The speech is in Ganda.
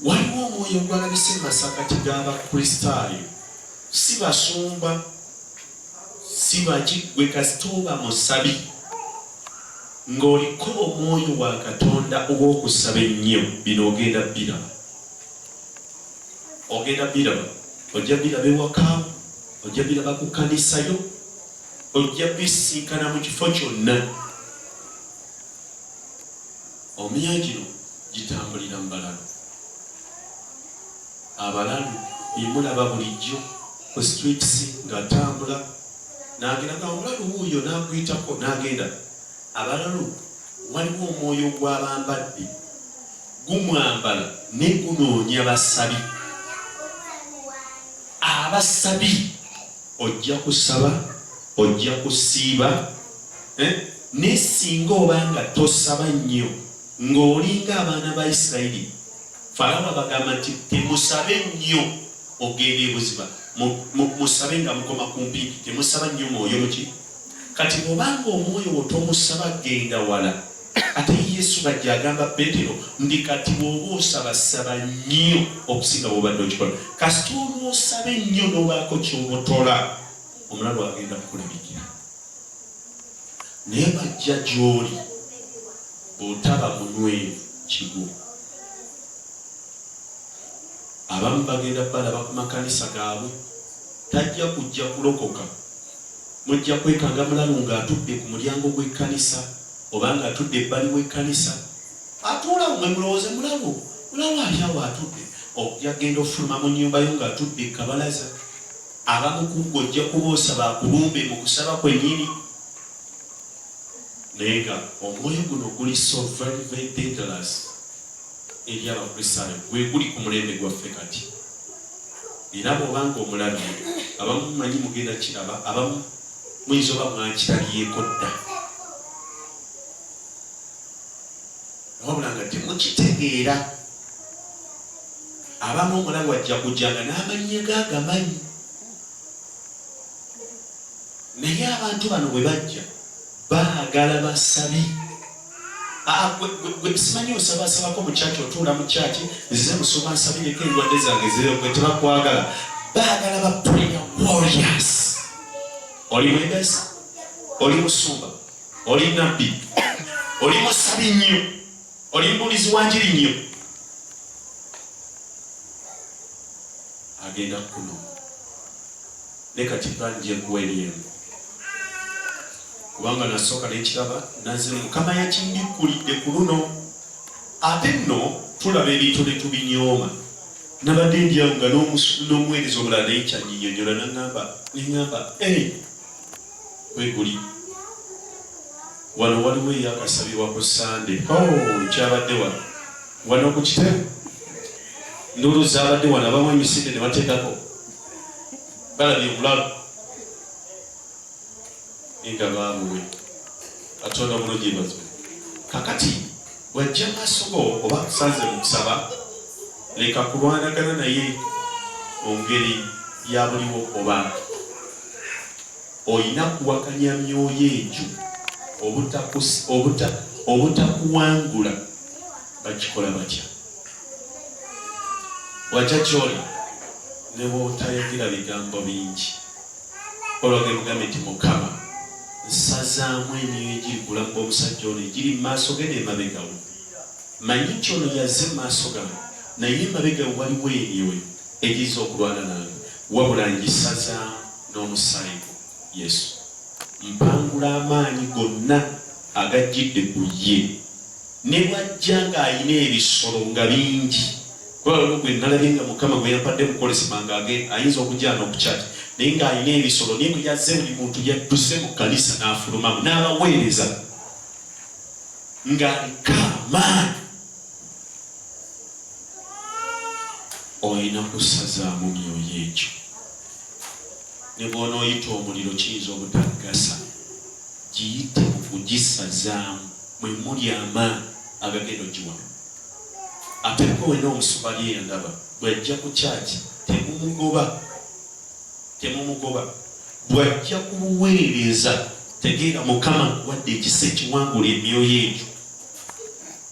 Waliwo omwoyo ogwalabise mu masakkati g'Abakristaayo, si basumba, si baki, gwe kasita oba musabi, ng'oliko omwoyo wa Katonda ow'okusaba ennyo, bino ogenda biraba. Ogenda biraba. Ojja biraba ewaka, ojja biraba ku kkanisa yo, ojja bisinkana mu kifo kyonna. Omiya gino gitambulira mu balalu. Abalalu be mulaba bulijjo ku streets ng'atambula n'agenda nga omulalu wuuyo n'aguyitako n'agenda. Abalalu waliwo omwoyo gw'abambadde gumwambala ne gunoonya basabi. Abasabi ojja kusaba, ojja kusiiba eh? Naye singa oba nga tosaba nnyo, nga oli nga abaana ba Isirayiri, Falaawo abagamba nti, Temusabe nnyo okugenda e buziba, mu, mu, musabe nga mukoma ku mpimpi, temusaba nnyo mwoyo muki. Kati bw'oba nga omwoyo wo tomusaba genda wala. Ate Yesu bajja agamba Peetero nti, Kati bw'oba osaba, saba nnyo okusinga bw'obadde okikola. Kasita olw'osaba ennyo n'obaako ky'obotola, omulalu agenda kukulabikira. Naye bajja gy'oli bw'otaba munywevu kigwo. Abamu bagenda balaba ku makanisa gaabwe. Tajja kujja kulokoka. Mujja kwekanga mulalu ng'atudde ku mulyango gw'ekkanisa oba ng'atudde ebbali w'ekkanisa. Atuula awo mwe mulowooze mulalu, mulalu ali awo atudde. Ojja kugenda ofuluma mu nnyumba yo ng'atudde ku kabalaza. Abamu ku ggwe ojja kuba osaba akulumbe mu kusaba kwennyini, naye nga omwoyo guno guli so very very dangerous eri Abakristaayo. Gwe guli ku mulembe gwaffe kati, era bw'oba nga omulabye, abamu manyi mugenda kiraba, abamu muyinza oba mwakirabyeko dda, wabula nga temukitegeera. Abamu omulabu ajja kujja nga n'amannya ge agamanyi, naye abantu bano bwe bajja baagala basabi. Ah, gwe simanyi osabasabako mu kyaki, otuula mu kyaki, nzize musoma nsabireko endwadde zange zireo, gwe tebakwagala. Baagala ba prayer warriors. Oli mwebezi, oli musumba, oli nabbi, oli musabi nnyo. Oli mubuulizi wa njiri nnyo. Agenda kuno ne kati plan gye nkuwa ebyemu kubanga nasooka nekiraba naze mukama yakindikkulidde ku luno ate nno tulaba ebintu ne tubinyooma nabadde ndyawo nga n'omuweereza omulala naye kyanyinyonyola naŋamba neŋamba kweguli wano waliwo eyakasabirwa ku sande oh, kyabadde wano wano ku kitebe ndulu zabadde wano abamu emisinde ne bateekako balabye obulalu nga baabuwe katonda bulungi bazo kakati wajja maaso go oba kusanze mu kusaba leka kulwanagana naye mu ngeri ya buliwo oba olina kuwakanya myoyo egyo obutakuwangula bakikola batya watya kyoli nebwotayogera bigambo bingi olwagemugambe nti mukama nsazaamu emyoyo egiri bulamu bwomusajja ono egiri mumaaso ge nemabegawo manyi nti ono yaze mumaaso gamu naye emabega waliwo emyoyo egiza okulwana nange Wabula ngisaza n'omusaayi gwo, Yesu. Mpangula amaanyi gonna agajjidde ku ye. Ne bw'ajja ng'alina ebisolo nga bingi, kuba waliwo gwe nnalabye nga Mukama gwe yampadde mu Kolesima nga ayinza okujja n'okukyaki, naye ng'alina ebisolo, naye bwe yazze buli muntu yadduse mu kkanisa n'afulumamu, n'abaweereza ng'aliko amaanyi. Olina kusazaamu myoyo egyo. Ne bw'onooyita omuliro kiyinza obutagasa. Giyite mu kugisazaamu, mwe muli amaanyi agagenda ogiwona. Ate ggwe wenna omusubali eyo ndaba bw'ajja ku kyaki temumugoba, temumugoba. Bw'ajja ku buweereza tegeera Mukama akuwadde ekisa ekiwangula emyoyo egyo.